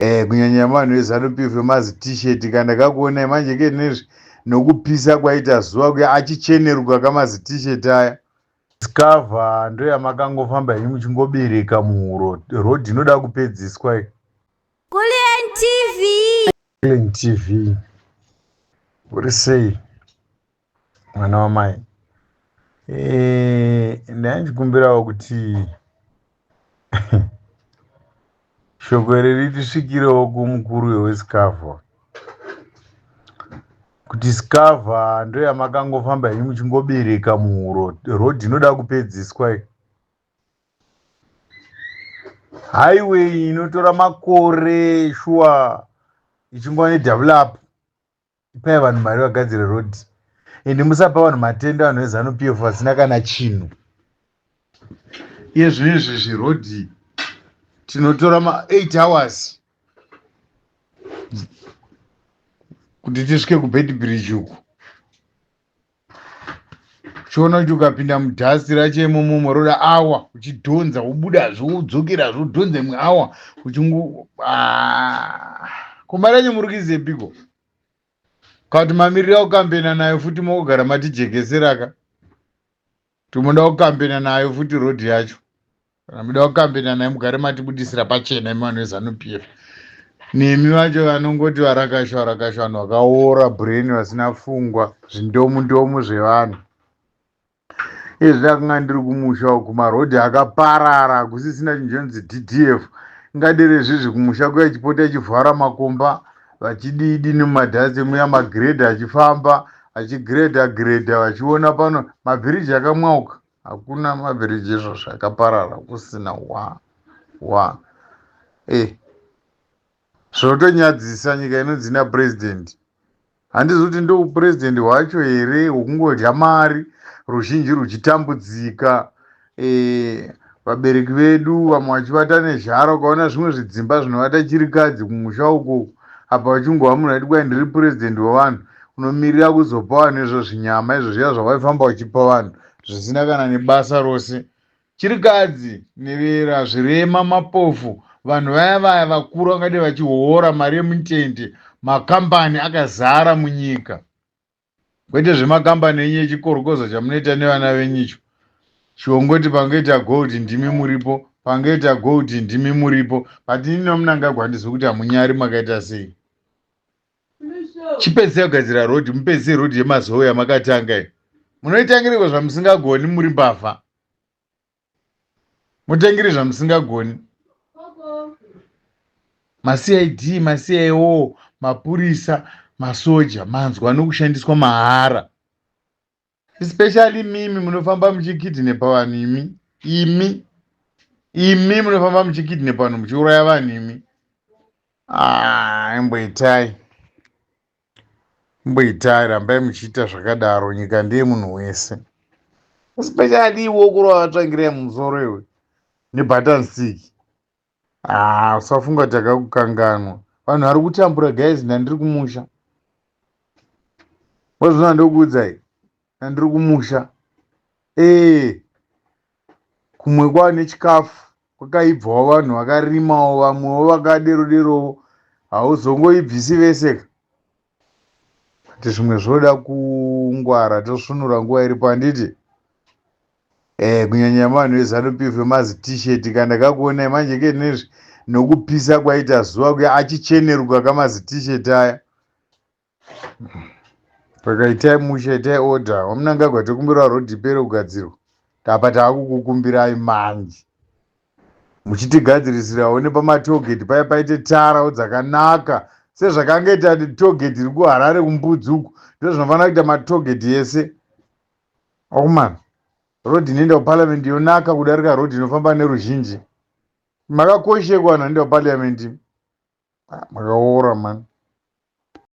Eh, kunyanya vanhu veZanu PF vemazi t-shirt ka ndakakuonai manje ke nezvi nokupisa kwaita zuva kuya achicheneruka kamazi t-shirt aya skava ndoyamakangofamba henyu muchingobereka muhuro road inoda kupedziswa iyi Kulien TV. Clean TV. Uri sei? mwana wamai eh, ndaya ndichikumbirawo kuti shoko iri ritisvikirewo kumukuru wewescava kuti scava ndoyamakangofamba henyu muchingobereka muhuro road inoda kupedziswa iyi highway inotora makore shuwa ichingova nedouble up ipai vanhu mari vagadzire road ende musapa vanhu matenda vanhu vezanu p f vasina kana chinhu iye zvino izvi zviroad tinotora ma eight hours kuti tisvike kubed bridge uku chiona kuti ukapinda mudhasti racho imomomo roda awa uchidhonza wobudazve wodzokerazve wodhonza imwe awa uchingu ah, kumba racho muri kuizepiko kati mamirira kukambena nayo futi mokugara matijekeseraka Kuti moda kukambena nayo futi road yacho kana moda kukambena nayo mugare matibudisira pachena imi vanhu veZanu PF. Nemi vacho vanongoti varakasha varakasha vanhu vakaora brain vasina fungwa zvindomu ndomu zvevanhu. Izvi ndakanga ndiri kumusha uku maroad akaparara kusisina chinhu chinonzi DDF ngadere izvizvi kumusha kuya chipota chivhara makomba vachididi nemadhasi muya magredha achifamba achigredha gredha vachiona pano mabhiriji akamwauka hakuna mabhiriji izvozvo akaparara kusina wa wa e zvotonyadzisa nyika inonzi na purezidhendi handizi kuti ndoupurezidhendi hwacho here hwekungodya mari ruzhinji ruchitambudzika Eh, vabereki vedu vamwe vachivata nezhara ukaona zvimwe zvidzimba zvinovata chirikadzi kumusha uko apa vachingova munhu aiti kwai ndiri purezidhendi wevanhu unomirira kuzopa vanhu izvo zvinyama izvo zviya zvavaifamba vachipa vanhu zvisina kana nebasa rose chirikadzi nevera zvirema mapofu vanhu vaya vaya vakuru vangadai vachihoora mari yemutende makambani akazara munyika kwete zvemakambani enyu echikorokoza chamunoita nevana venyu icho chiongoti pangoita gold ndimi muripo pangoita gold ndimi muripo but ini nomunangagwa handizivi kuti hamunyari makaita sei chipedzisai kugadzira rhodhi mupedzise rhodhi yemazowe yamakatanga i munoitangiriko zvamusingagoni muri mbavha mutengiri zvamusingagoni macid macio mapurisa masoja manzwa nokushandiswa mahara especially mimi munofamba muchikidhinepa vanhu imi imi imi munofamba muchikidhinepa vanhu muchiuraya vanhu imi ah, imboitai ah, Mbo itai rambai muchiita zvakadaro nyika ndeye munhu wese. Especially iwe ukurova vatsvangirai mumusoro iwe nebutton stick. Haa ah, usafunga kuti akakukanganwa. Vanhu vari kutambura guys ndandiri kumusha. Wazvona ndokuudzai. ndandiri kumusha ee kumwe kwane chikafu kwakaibvawo vanhu vakarimawo vamwewo vakadero derowo hauzongoibvisi vese ka but zvimwe zvoda kungwara tosvunura nguva iripo handiti eh kunyanya vanhu vezanu pf vemazi t-shirt ka ndakakuonai manje ke nezvi nokupisa kwaita zuva kuya achicheneruka kamazi t-shirt aya Saka itai mushe, itai order. Wamunangagwa tokumbirawo road ipere kugadzirwa. Apa taakukukumbirai manje. Muchitigadzirisirawo nepamatollgate paya paite tarawo dzakanaka sezvakange ita tollgate iri kuHarare kuMbudzi uku ndozvinofanira kuita matollgate yese. Okumana. Road inoenda kuparliament yonaka kudarika road inofamba neruzhinji. Makakoshekwa vanhu vanoenda kuparliament. Ah, makaora mani.